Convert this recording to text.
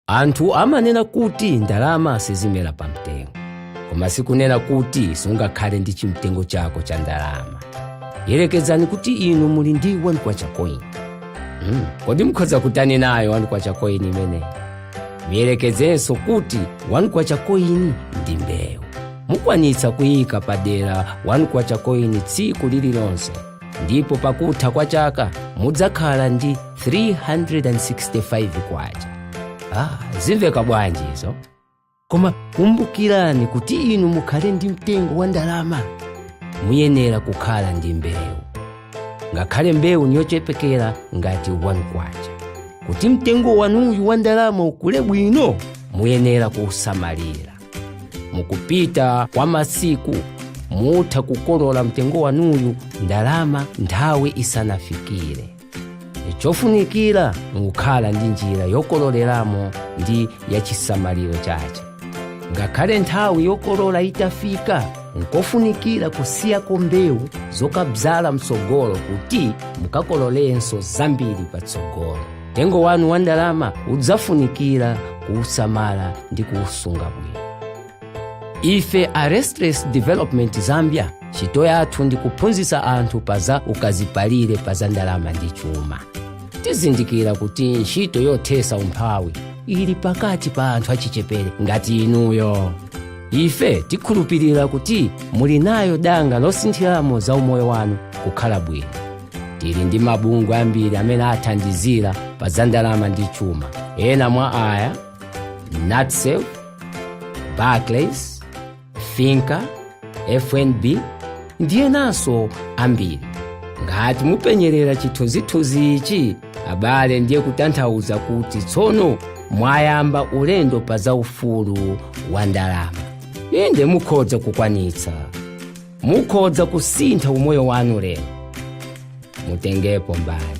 anthu amanena kuti ndalama sizimera pa mtengo koma sikunena kuti sungakhale ndi chimtengo chako cha ndalama yerekezani kuti inu muli ndi 1 kwacha coin mm. kodi mukhoza kutani nayo 1 kwacha coin imeneyi muyerekezenso kuti 1 kwacha coin ndi mbewu mukwanitsa kuyika padera 1 kwacha coin tsiku lililonse ndipo pakutha kwa chaka mudzakhala ndi 365 kwacha ah, zimveka bwanji izo koma kumbukirani kuti inu mukhale ndi mtengo wa ndalama muyenera kukhala ndi mbewu ngakhale mbewu niyochepekera ngati 1 kwacha kuti mtengo wanuyu wa ndalama ukule bwino muyenera kuusamalira mukupita kwa masiku mutha kukolola mtengo wanuyu ndalama nthawi isanafikire chofunikira nkukhala ndi njira yokololeramo ndi yachisamaliro chache ngakhale nthawi yokolola itafika nkofunikira kusiyako mbewu zokadzala mtsogolo kuti mukakololenso zambiri patsogolo mtengo wanu wa ndalama udzafunikira kuusamala ndi kuusunga bwino ife a restless development zambia ntchito yathu ndi kuphunzitsa anthu pa za ukazipalire pa za ndalama ndi chuma tizindikira kuti ntchito yothesa umphawi ili pakati pa anthu achichepere ngati inuyo ife tikhulupirira kuti muli nayo danga losinthiramo za umoyo wanu kukhala bwino tili ndi mabungwe ambiri amene athandizira pa za ndalama ndi chuma ena mwa aya natsave barclays finca fnb ndi enanso ambiri ngati mupenyerera chithunzithunzi ichi abale ndiye kutanthauza kuti tsono mwayamba ulendo pa za ufulu wa ndalama inde mukhoza kukwanitsa mukhoza kusintha umoyo wanu lero mutengepo mbali